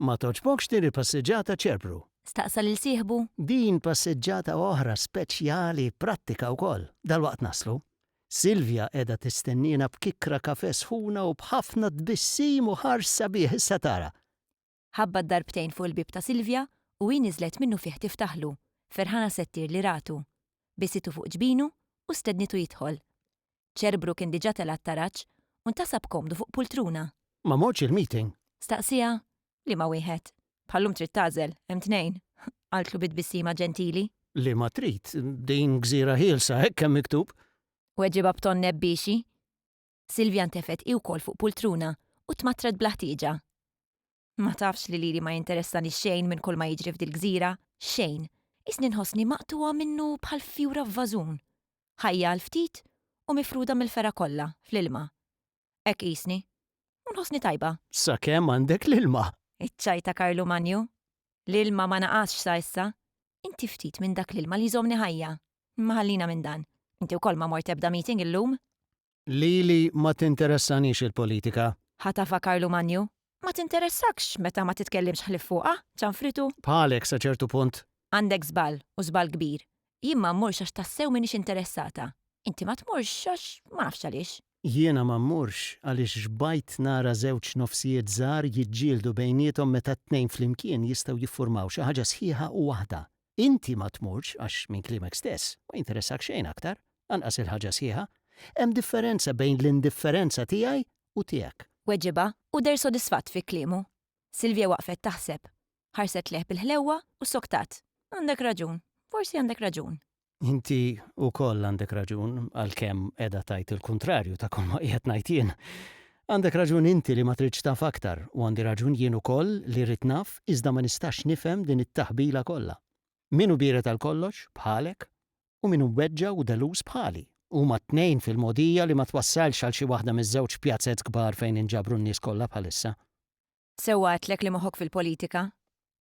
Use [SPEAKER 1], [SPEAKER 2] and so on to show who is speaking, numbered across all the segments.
[SPEAKER 1] Ma togħġbokx din il-passeġġata Ċerpru? staqsa lil sieħbu. Din passeġġata oħra speċjali, prattika wkoll. Dalwaqt naslu. Silvia qiegħda tistenniena b'kikra kafè sħuna u b'ħafna tbissim u ħarġ sabiħ issa tara. Ħabbat darbtejn fuq il-bieb ta' Silvia u hi niżlet minnufih tiftaħlu, ferħana settir li ratu. Bisitu fuq ġbinu u stednitu jidħol. Ċerbru kien diġà tela' t-taraġ u ntasab komdu fuq pultruna. Ma mortx il-meeting? Staqsieha. Liema wieħed? Bħal-lum trid tagħżel, hemm tnejn, qaltlu bi tbissima ġentili. Liema trid? Din gżira ħielsa, hekk hemm miktub. Weġibha b'ton nebbiexi. Silvia ntefgħet hi wkoll fuq pultruna u tmattret bla ħtieġa. Ma tafx li lili ma jinteressani xejn minn kull ma jiġri f'dil-gżira, xejn. Qisni nħossni maqtugħa minnu bħal fjura f'vażun. Ħajja għal ftit u mifruda mill-fergħa kollha, fl-ilma. Hekk qisni. U nħossni tajba. Sakemm għandek l-ilma! Iċċajt ta' Karlu Manju. L-ilma ma naqasx sa issa. Inti ftit minn dak l-ilma li jżommni ħajja. Imma ħallina minn dan. Inti wkoll ma mort ebda meeting illum? Lili ma tinteressanix il-politika. Ħatafha Karlu Manju. Ma tinteressakx meta ma titkellimx ħlief fuqha, ċanfritu. Bħalek sa ċertu punt. Għandek żball, u żball kbir. Jien ma mmurx għax tassew m'iniex interessata. Inti ma tmurx għax ma nafx għaliex. Jiena ma mmurx għaliex xbajt nara żewġ nofsijiet żgħar jiġġieldu bejniethom meta t-tnejn flimkien jistgħu jiffurmaw xi ħaġa sħiħa u waħda. inti ma tmurx għax minn klimek stess ma jinteressakx xejn aktar, anqas il-ħaġa sħiħa. Hemm differenza bejn l-indifferenza tiegħi u tiegħek. Weġibha u deher sodisfatt fi kliemu. Silvia waqfet taħseb. Ħarset lejh bil-ħlewwa u ssoktat. Għandek raġun. Forsi għandek raġun. Inti wkoll għandek raġun, għalkemm qiegħda tgħid il-kuntrarju ta' kulma qiegħed ngħid jien. Għandek raġun inti li ma tridx taf aktar u għandi raġun jien ukoll li rrid naf iżda ma nistax nifhem din it-taħbila kollha. Min hu biered għal kollox, bħalek, u min hu mweġġa' u deluż bħali? Huma t-tnejn fil-mogħdija li ma twassalx għal xi waħda miż-żewġ pjazez kbar fejn inġabru n-nies kollha bħalissa. Sewwa għedtlek li moħħok fil-politika?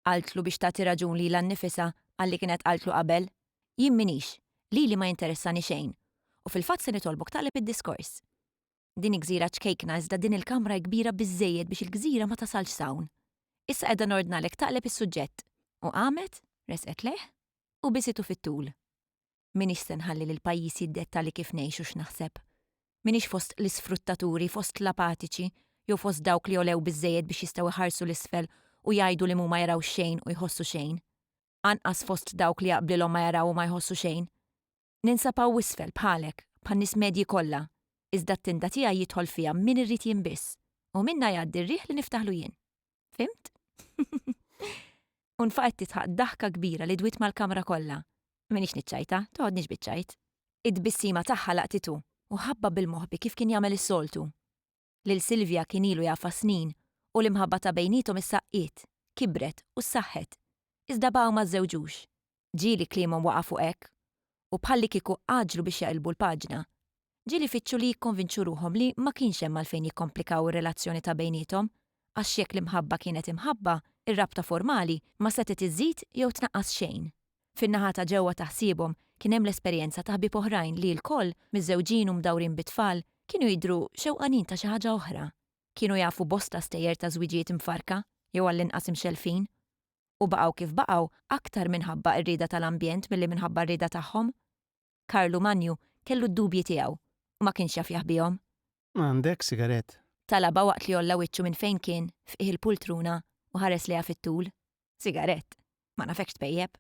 [SPEAKER 1] qaltlu biex tagħti raġun lilha nnifisha għalli kienet qaltlu qabel. Jien m'iniex, lili ma jinteressani xejn, u fil-fatt se nitolbok taqleb id-diskors. Din hi gżira ċkejkna iżda din il-kamra hi kbira biżżejjed biex il-gżira ma tasalx s'hawn. Issa qiegħda nordnalek taqleb is-suġġett. U qamet, resqet lejh, u biesitu fit-tul. M'iniex se nħalli li l-pajjiż jiddetta li kif ngħix u x'naħseb. M'iniex fost l-isfruttaturi, fost l-apatiċi, jew fost dawk li għolew biżżejjed biex jistgħu jħarsu 'l isfel u jgħidu li mhuma jaraw xejn u jħossu xejn. Anqas fost dawk li jaqblilhom ma jaraw u ma jħossu xejn. Ninsab hawn isfel bħalek, bħan-nies medji kollha, iżda t-tinda tiegħi jidħol fiha min irid jien biss, u minnha jgħaddi r-riħ li niftaħlu jien. Fhimt? U nfaqet tidħaq daħka kbira li dwiet mal-kamra kollha. M'iniex niċċajta, toħodniex biċ-ċajt. It-tbissima tagħha laqtitu u ħabba bil-moħbi kif kien jagħmel is-soltu. lil Silvia kien ilu jafha snin u l-imħabba ta' bejniethom issa qqiet, kibret u ssaħħet. Iżda baqgħu ma żżewġux. Ġieli kliemhom waqa' fuq hekk u bħallikieku għaġġlu biex jaqilbu l-paġna. Ġieli jfittxu li jikkonvinċu ruħhom li ma kienx hemm għalfejn jikkomplikaw ir-relazzjoni ta' bejniethom għax jekk l-imħabba kienet imħabba, ir-rabta formali ma setgħet iżżid jew tnaqqas xejn. Fin-naħa ta' ġewwa ta' ħsiebhom kien hemm l-esperjenza ta' ħbieb oħrajn li lkoll, miżżewġin u mdawrin bi tfal, kienu jidhru xewqanin ta' xi ħaġa oħra. Kienu jafu bosta stejjer ta' żwiġijiet mfarrka, jew għall-inqas imxellfin. U baqgħu kif baqgħu aktar minħabba r-rieda tal-ambjent milli minħabba r-rieda tagħhom. Karlu Manju kellu d-dubji tiegħu u ma kienx jaf jaħbihom. Għandek sigarett? Talabha waqt li għolla wiċċu minn fejn kien f'qiegħ il-pultruna u ħares lejha fit-tul. Sigarett? Ma nafekx tpejjep.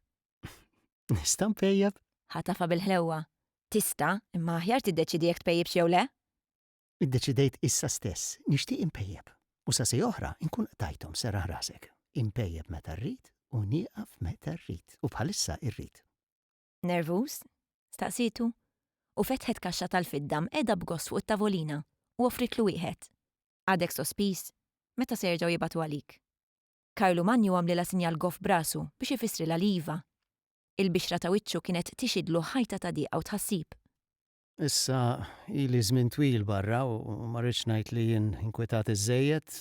[SPEAKER 1] Nista' npejjep? Ħatafha bil-ħlewwa. Tista', imma aħjar tiddeċiedi jekk tpejjipx jew le. Iddeċidejt issa stess, nixtieq inpejjep. U sa siegħa oħra nkun qtajthom, serraħ rasek. Inpejjep meta rrid u nieqaf meta rrid, u bħalissa irrid. Nervuż? staqsietu, u fetħet kaxxa tal-fidda mqegħda b'gost fuq it-tavolina u offritlu wieħed. Għadek sospiż? Meta se jerġgħu jibagħtu għalik? Karlu Manju għamlilha sinjal goff b'rasu biex ifissrilha li iva. Il-bixra ta' wiċċu kienet tixhidlu ħajta ta' diqa u tħassib. Issa ili żmien twil barra u ma rridx ngħid li jien inkwetat iżżejjed,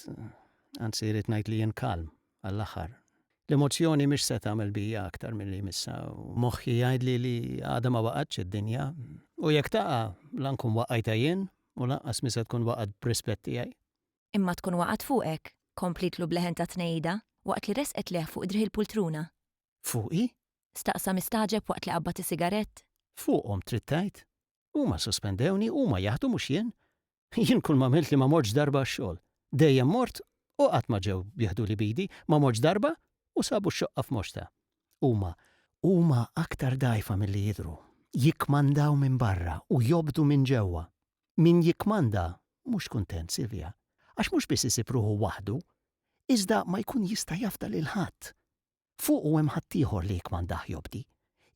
[SPEAKER 1] anzi jrid ngħid li jien kalm għall-aħħar. L-emozzjoni mhix se tagħmel bija aktar milli jmissha u moħħi jgħidli li għadha ma waqgħetx id-dinja u jekk taqa' la nkun waqqajtha jien u lanqas mhi se tkun waqgħet b'rispett tiegħi. Imma tkun waqgħet fuqek, komplietlu b'leħen ta' tnegħida waqt li resqet lejh fuq driegħi l-pultruna. Fuqi? staqsa mistagħġeb waqt li qabbad is-sigarett. Fuqhom trid tgħid? Huma sospendewni, huma jaħdu mhux jien. Jien kull m'għamilt li ma mortx darba għax-xogħol. Dejjem mort u qatt ma ġew jaħduli b'idi, ma mortx darba u sabu x-xoqqa f'moxta. Huma, huma aktar dgħajfa milli jidhru. Jikkmandaw minn barra u jobdu minn ġewwa. Min jikkmanda mhux kuntent, Silvia, għax mhux biss isib ruħu waħdu, iżda ma jkun jista' jafda lil ħadd. Fuqu hemm ħaddieħor li jikkmandah jobdi.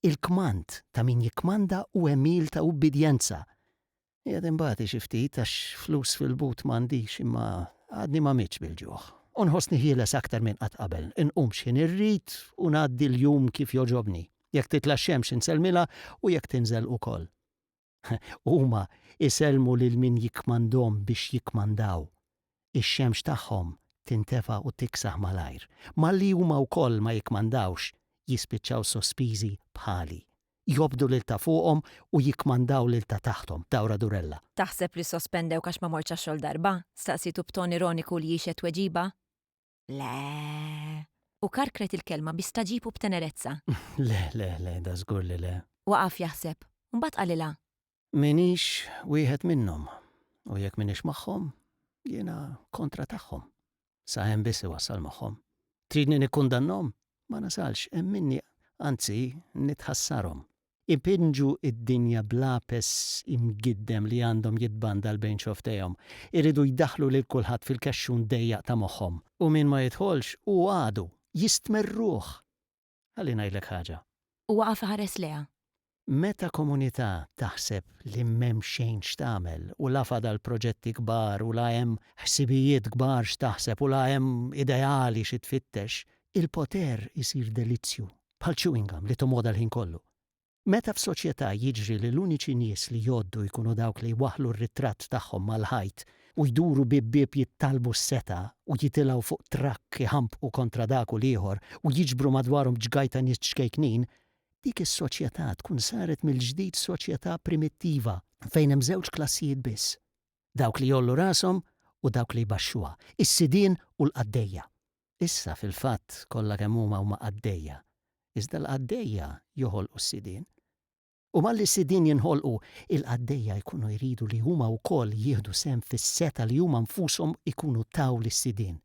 [SPEAKER 1] Il-kmand ta' min jikkmanda hu għemil ta' ubbidjenza. Qiegħed inbati xi ftit għax flus fil-but m'għandix imma għadni ma mitx bil-ġuħ. U nħossni ħieles aktar minn qatt qabel. Inqum x'ħin irrid u ngħaddi l-jum kif jogħġobni. Jekk titla' x-xemx insellmilha u jekk tinżel ukoll. Huma jsellmu lil min jikkmandhom biex jikkmandaw. Ix-xemx tagħhom tintefa u tiksaħ malajr. Malli huma wkoll ma jikkmandawx, jispiċċaw sospiżi bħali. Jobdu lil ta' fuqhom u jikkmandaw lil ta' taħthom, Dawra Durella. Taħseb li ssospendewk għax ma mortx għax-xogħol darba? staqsietu b'ton ironiku li jixhed tweġiba. Le. U karkret il-kelma bi staġib u b'tenerezza. Le, le, le, da żgur li le. Waqaf jaħseb, u mbagħad qalilha. M'iniex wieħed minnhom, u jekk m'iniex magħhom, jiena kontra tagħhom. Sa hemm biss iwassal magħhom. Tridni nikkundannhom? Ma nasalx, hemm minni, anzi, nitħassarhom. ipinġu d-dinja b'lapes imgiddem li għandhom jitbandal bejn xofftejhom. Iridu jdaħħlu lil kulħadd fil-kexxun dejjaq ta' moħħhom. U min ma jidħolx hu għadu, jistmerruh! Ħalli ngħidlek ħaġa. Hu waqaf iħares lejha. Meta komunità taħseb li m'hemm xejn x'tagħmel u la fadal proġetti kbar u la hemm ħsibijiet kbar x'taħseb u la hemm ideali xi tfittex, il-poter isir delizzju bħal chewing gum li tomoda l-ħin kollu. Meta f'soċjetà jiġri li l-uniċi nies li jgħoddu jkunu dawk li jwaħħlu r-ritratt tagħhom mal-ħajt u jduru bieb bieb jittallbu s-setgħa u jitilgħu fuq trakk iħampqu kontra dak u l-ieħor u jiġbru madwarhom ġgaj ta' nies ċkejknin, dik is-soċjetà tkun saret mill-ġdid soċjetà primittiva fejn hemm żewġ klassijiet biss, dawk li jgħollu rashom u dawk li jbaxxuha, is-sidien u l-qaddejja. Issa, fil-fatt, kollha kemm huma huma qaddejja. Iżda l-qaddejja joħolqu s-sidien. U malli s-sidien jinħolqu, il-qaddejja jkunu jridu li huma wkoll jieħdu sehem fis-setgħa li huma nfushom ikunu taw lis-sidien.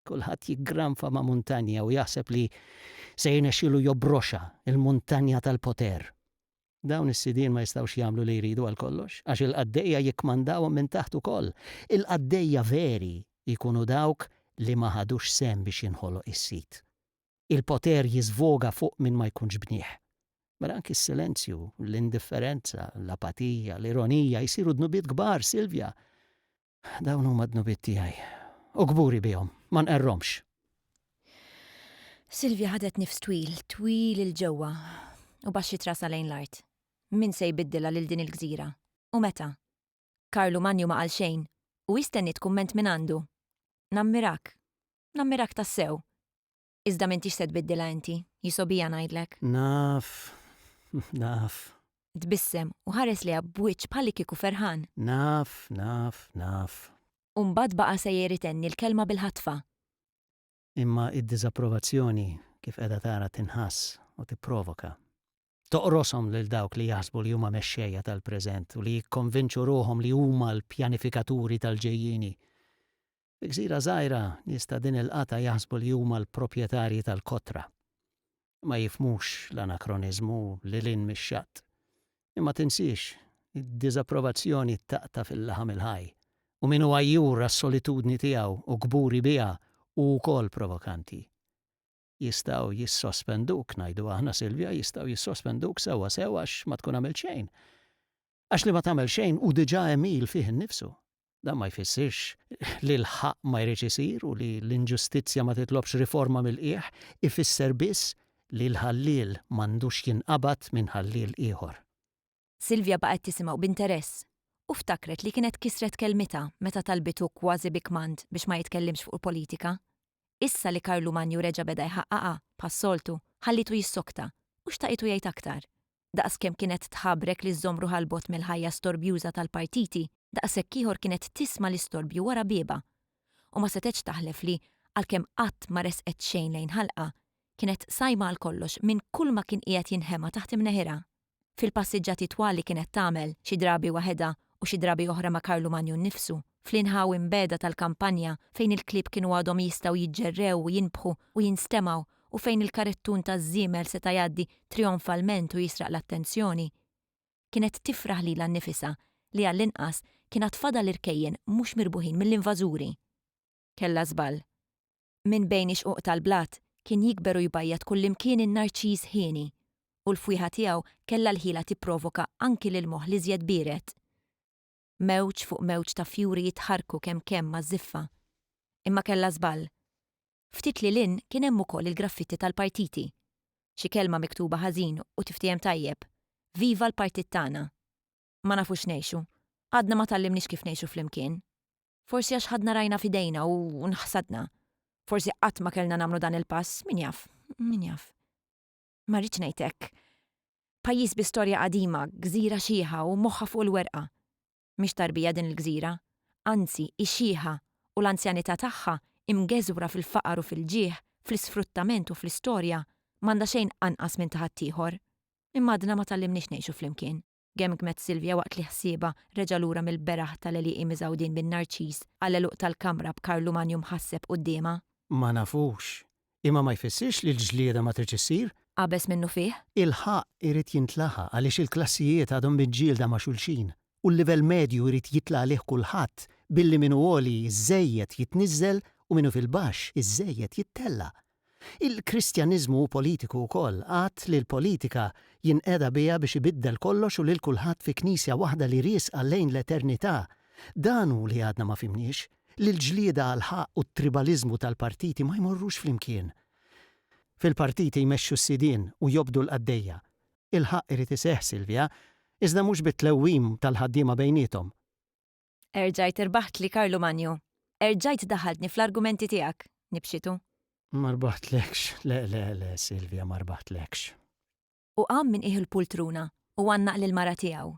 [SPEAKER 1] Kulħadd jiggranfa ma' muntanja u jaħseb li se jirnexxielu jobroxha, il-muntanja tal-poter. Dawn is-sidien ma jistgħux jagħmlu li jridu għal kollox, għax il-qaddejja jikkmandawhom minn taħt ukoll. Il-qaddejja veri jkunu dawk li ma ħadux sehem biex jinħoloq is-sid. Il-poter jiżvoga fuq min ma jkunx bnieh. Mela anki s-silenzju, l-indifferenza, l-apatija, l-ironija jsiru dnubiet kbar, Silvia. Dawn huma dnubiet tiegħi u kburi bihom, ma nqerrhomx. Silvia ħadet nifs twil, twil il ġewwa u baxxi trasa lejn l-art. Min se jbiddilha lil din il-gżira? U meta? Karlu Manju ma qal xejn u hi stenniet kumment mingħandu. Nammirak. Nammirak tassew. Iżda m'intix se tbiddilha inti, hi sobija ngħidlek. Naf, naf. Tbissem u ħares lejha b'wiċċ bħalikieku ferħan. Naf, naf, naf. U mbagħad baqa' sejjer itenni l-kelma bil-ħatfa. Imma d-diżapprovazzjoni kif qiegħda tara tinħass u tipprovoka. Toqroshom lil dawk li jaħsbu li huma mexxejja tal-preżent u li jikkonvinċu ruħhom li huma l-pjanifikaturi tal-ġejjieni. Fi gżira żgħira, nies ta' din il-qatgħa jaħsbu li huma l-proprjetarji tal-kotra. Ma jifhmux l-anakroniżmu lil hinn mix-xatt. Imma tinsiex, id-diżapprovazzjoni taqta' fil-laħam il-ħaj, u min hu għajjur għas-solitudni tiegħu u kburi biha hu wkoll provokanti. Jistgħu jissospenduk, ngħidu aħna, Silvia, jistgħu jissospenduk sewwa sew għax ma tkun għamilt xejn. Għax li ma tagħmel xejn hu diġà għemil fih innifsu. Dan ma jfissirx li l-ħaqq ma jridx isir u li l-inġustizzja ma titlobx riforma mill-qiegħ, ifisser biss li l-ħalliel m'għandux jinqabad minn ħalliel ieħor. Silvia baqgħet tisimgħu b'interess u ftakret li kienet kisret kelmitha meta talbitu kważi bi kmand biex ma jitkellimx fuq il-politika. Issa li Karlu Manju reġa' beda jħaqqaqha, bħas-soltu, ħallietu jissokta u xtaqietu jgħid aktar. Daqs kemm kienet tħabrek li żżomm ruħha 'l bogħod mill-ħajja storbjuża tal-partiti, daqshekk ieħor kienet tisma' l-istorbju wara biebha. U ma setgħetx taħlef li, għalkemm qatt ma resqet xejn lejn ħalqha, kienet sajma għal kollox minn kulma kien qiegħed jinħema taħt imneħirha. Fil-passiġġati twal li kienet tagħmel, xi drabi waħedha u xi drabi oħra ma' Karlu Magnu nnifsu, fl-inħawi mbiegħda tal-kampanja fejn il-klieb kienu għadhom jistgħu jiġġerrew u jinbħu u jinstemgħu u fejn il-karettun taż-żiemel seta' jgħaddi trijonfalment u jisraq l-attenzjoni. Kienet tifraħ lilha nnifisha li għall-inqas kien għad fadal irkejjen mhux mirbuħin mill-invażuri. Kellha żball. Minn bejn ix-xquq tal-blat kien jikber u jbajjad kullimkien in-narċiż hieni, u l-fwieħa tiegħu kellha l-ħila tipprovoka anki lill-moħħ l-iżjed biered. mewġ fuq mewġ ta' fjuri jitħarrku kemm kemm maż-żiffa. Imma kellha żball. Ftit lil hinn kien hemm ukoll il-graffitti tal-partiti. Xi kelma miktuba ħażin u tiftiehem tajjeb, Viva l-partit tagħna. Ma nafux ngħixu. Għadna ma tgħallimniex kif ngħixu flimkien. Forsi għax ħadna rajna f'idejna u nħsadna. Forsi qatt ma kellna nagħmlu dan il-pass, min jaf, min jaf. Ma rridx ngħid hekk. Pajjiż bi storja qadima, gżira xiħa u moħħha fuq il-werqa. Mhix tarbija din il-gżira. Anzi, hi xiħa u l-anzjanità tagħha, imgeżwra fil-faqar u fil-ġieħ, fl-isfruttament u fl-istorja, m'għandha xejn anqas minn ta' ħaddieħor. Imma għadna ma tgħallimniex ngħixu flimkien. gemgmet Silvia waqt li ħsiebha reġa' lura mill-beraħ tal-għelieqi miżgħudin bin-narċiż għall-għeluq tal-kamra b'Karlu Manju mħasseb quddiemha. Ma nafux. Imma ma jfissirx li l-ġlieda ma tridx issir. Qabeż minnufih. Il-ħaqq irid jintlaħaq għaliex il-klassijiet għadhom miġġielda ma' xulxin u l-livell medju jrid jitla' għalih kulħadd billi min hu għoli żżejjed jitniżżel u min hu fil-baxx iżżejjed jittella'. Il-Kristjaniżmu hu politiku wkoll, att li l-politika jinqeda biha biex ibiddel kollox u lil kulħadd fi Knisja waħda li riesqa lejn l-eternità. Dan hu li għadna ma fhimniex, li l-ġlieda għall-ħaqq u t-tribaliżmu tal-partiti ma jmorrux flimkien. Fil-partiti jmexxu s-sidien u jobdu l-qaddejja. Il-ħaqq irid iseħħ, Silvia, iżda mhux bit-tlewwim tal-ħaddiema bejniethom. Erġajt irbaħtli Karlu Manju. Erġajt daħaltni fl-argumenti tiegħek, nibxitu. Ma rbaħtlekx, le, le, le, Silvia, ma rbaħtlekx. U qam minn qiegħ il-pultruna u għannaq lill-mara tiegħu.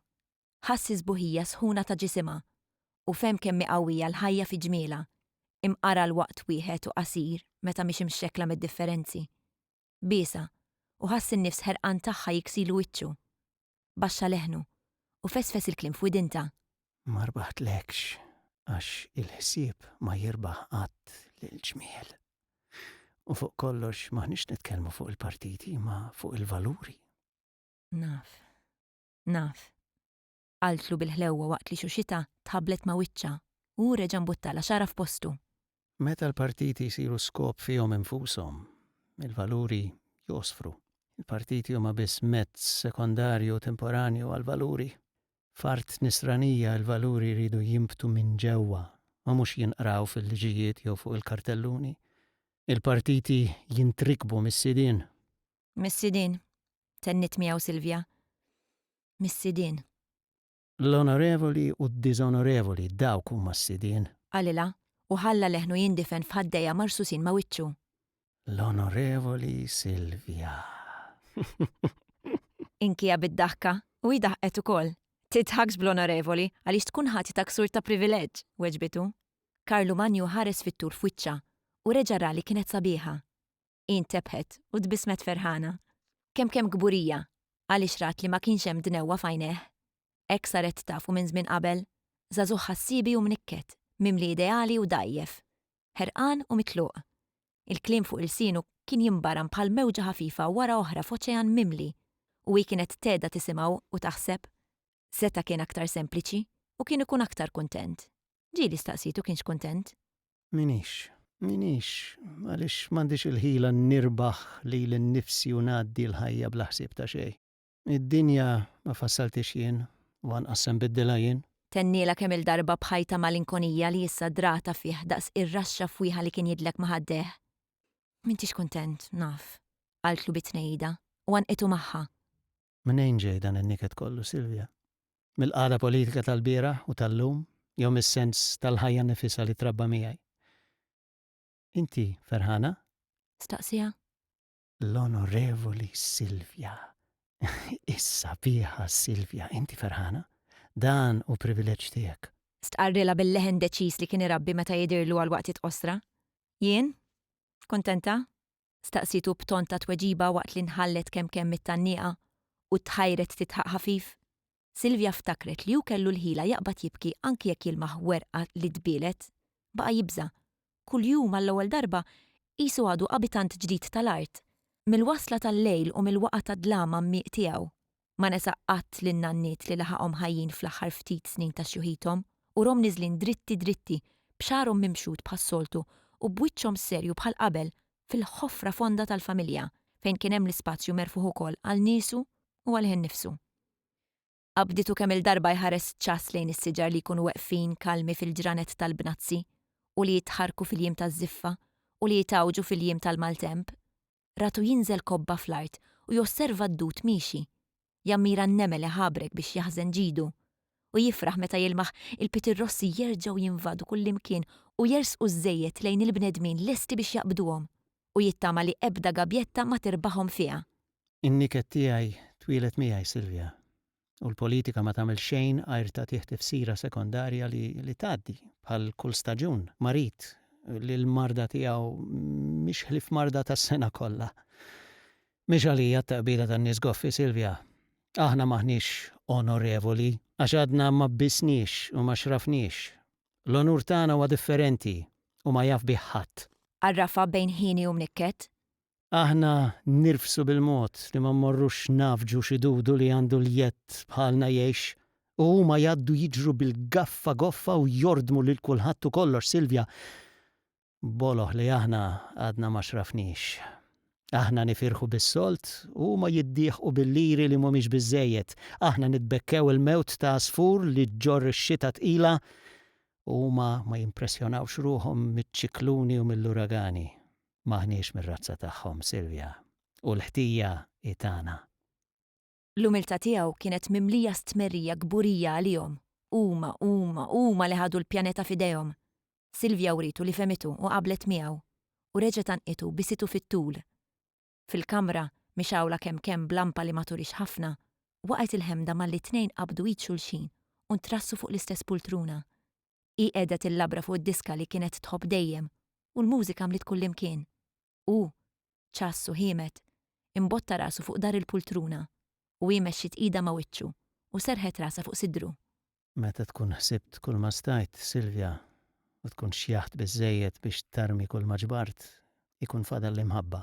[SPEAKER 1] Ħass is-sbuħija sħuna ta' ġisimha u fehm kemm hi qawwija l-ħajja fi ġmielha, imqara l-waqt wieħed u qasir meta mhix imxekkla mid-differenzi. biesha, u ħass in-nifs ħerqan tagħha jiksilu wiċċu. Baxxa leħnu, u fesfes il-kliem f'widintha. Ma rbaħtlekx, għax il-ħsieb ma jirbaħ qatt lill-ġmiel. U fuq kollox m'aħniex nitkellmu fuq il-partiti, ma fuq il-valuri. Naf. Naf. qaltlu bil-ħlewwa waqt li xuxitha tħabblet ma' wiċċha u hu reġa' mbuttalha xagħarha f'postu. Meta l-partiti jsiru skop fihom infushom, il-valuri jgħosfru. Il-partiti huma biss mezz sekondarju u temporanju għall-valuri. F'art Nisranija il-valuri jridu jinbtu minn ġewwa u mhux jinqraw fil-liġijiet jew fuq il-kartelluni. Il-partiti jintrikbu mis-sidien. Missidin, tennit miegħu Silvia. Missidin. L-onorevoli u d-diżonorevoli, dawk huma s-sidien. Qalilha, u ħalla leħnu jindifen f'ħaddejha marsusin ma' wiċċu. L-onorevoli Silvia. Inkija bid-daħka, u hi daħqet ukoll. Tidħakx bl-onorevoli, għaliex tkun ħati ta' ksur ta' privileġġ, weġbitu. Karlu Manju ħares fit-tul f'wiċċha, u reġa' ra li kienet sabiħa. hi ntebħet u tbissmet ferħana. Kemm kemm kburija għaliex rat li ma kienx hemm dnewwa f'għajnejh. Hekk saret taf u minn żmien qabel, żagħżugħ ħassiebi u mnikket, mimli ideali u dgħajjef. Ħerqan u mitluq. Il-kliem fuq ilsienu kien jinbaram bħal mewġa ħafifa wara oħra f'oċean mimli u hi kienet tgħedha tisimgħu u taħseb. Seta' kien aktar sempliċi u kien ikun aktar kuntent. Ġieli staqsitu kienx kuntent. M'iniex. M'iniex, għaliex m'għandix il-ħila nirbaħ lili nnifsi u ngħaddi l-ħajja bla ħsieb ta' xejn. Id-dinja ma fassalthiex jien u anqas se nbiddilha jien. Tennielha kemm-il darba b'ħaj ta' malinkonija li issa dragħatha fih daqs ir-raxxa fwieħa li kien jidlek ma' ħaddejh. M'intix kuntent, naf, qaltlu bi tnejjida u għannqitu magħha. Mnejn ġej dan in-niket kollu, Silvia? Mill-qagħda politika tal-bieraħ u tal-lum jew mis-sens tal-ħajja nifisha li trabba miegħi? Inti ferħana? Staqsiha. L-Onorevoli Silvia. Is-sabiħa Silvia, inti ferħana? Dan hu privileġġ tiegħek. Stqarrilha bil-leħen deċiż li kien irabbi meta jidhirlu għal waqtiet qosra. Jien? Kuntenta? staqsietu b'ton ta' tweġiba waqt li nħallet kemm kemm mit-tgħanniqa u tħajret tidħaq ħafif. Silvia ftakret li hu kellu l-ħila jaqbad jibki anki jekk jilmaħ werqa li tbielet. Baqa' jibża'. Kuljum għall-ewwel darba qisu għadu abitant ġdid tal-art. Mill-wasla tal-lejl u mill-waqgħa tad-dlam għammiq tiegħu. Ma nesa qatt lin-nanniet li laħaqhom ħajjin fl-aħħar ftit snin ta' xjuħithom, urhom niżlin dritti dritti, b'xagħarhom mimxud bħas-soltu u b'wiċċhom serju bħal qabel fil-ħofra fonda tal-familja fejn kien hemm l-ispazju merfugħ ukoll għal niesu u għalih innifsu. Qabditu kemm-il darba jħares ċass lejn is-siġar li jkunu weqfin kalmi fil-ġranet tal-bnazzi u li jitħarrku fil-jiem taż-żiffa u li jitgħawġu fil-jiem tal-maltemp. ratu jinżel kobba fl-art u josserva d-dud miexi. Jammira n-nemel iħabrek biex jaħżen ġidu. U jifraħ meta jilmaħ il-pitirrossi jerġgħu jinvadu kullimkien u jersqu żżejjed lejn il-bnedmin lesti biex jaqbduhom. U jittama li ebda gabjetta ma tirbaħhom fiha. In-niket tiegħi twieled miegħi Silvia. u l-politika ma tagħmel xejn għajr tagħtih tifsira sekondarja li li tgħaddi, bħal kull staġun, marid li l-marda tiegħu mhix ħlief marda tas-sena kollha. Mhix għalija t-taqbida tan-nies goffi, Silvia. Aħna m'aħniex onorevoli għax għadna ma bbisniex u ma xrafniex. L-onur tagħna huwa differenti u ma jaf bih ħadd. Għarrafha bejn ħieni u mnikket. Aħna nirfsu bil-mod li ma mmorrux nagħfġu xi dudu li għandu l-jedd bħalna jgħix u huma jgħaddu jiġru bil-gaffa goffa u jordmu lil kulħadd u kollox, Silvja, b'boloh li aħna għadna ma xrafniex. Aħna nifirħu bis-solt u huma jiddieħqu bil-liri li mhumiex biżżejjed. Aħna nitbekkew il-mewt ta' għasfur li ġġorr ix-xita tqila u huma ma jimpressjonawx ruħhom miċ-ċikluni u mill-uragani. M'aħniex mir-razza tagħhom, Silvia, u l-ħtija hi tagħna. L-umiltà tiegħu kienet mimlija stmerrija kburija għalihom. Huma, huma, huma li ħadu l-pjaneta f'idejhom! Silvia writu li fehmitu u qablet miegħu, u reġgħet għannqitu bisitu fit-tul. Fil-kamra, mixgħula kemm kemm b'lampa li ma turix ħafna, waqgħet il-ħemda malli t-tnejn qabdu id xulxin u ntrassu fuq l-istess pultruna. Hi qiegħda tillabra fuq id-diska li kienet tħobb dejjem u l-mużika mliet kullimkien. Hu, ċass u ħiemet, imbotta rasu fuq dahar il-pultruna u hi mexxiet idha ma' wiċċu u serrħet rasha fuq sidru. Meta tkun ħsibt kulma stajt, Silvia, u tkun xjaħt biżżejjed biex tarmi kulma ġbart, ikun fadal l-imħabba.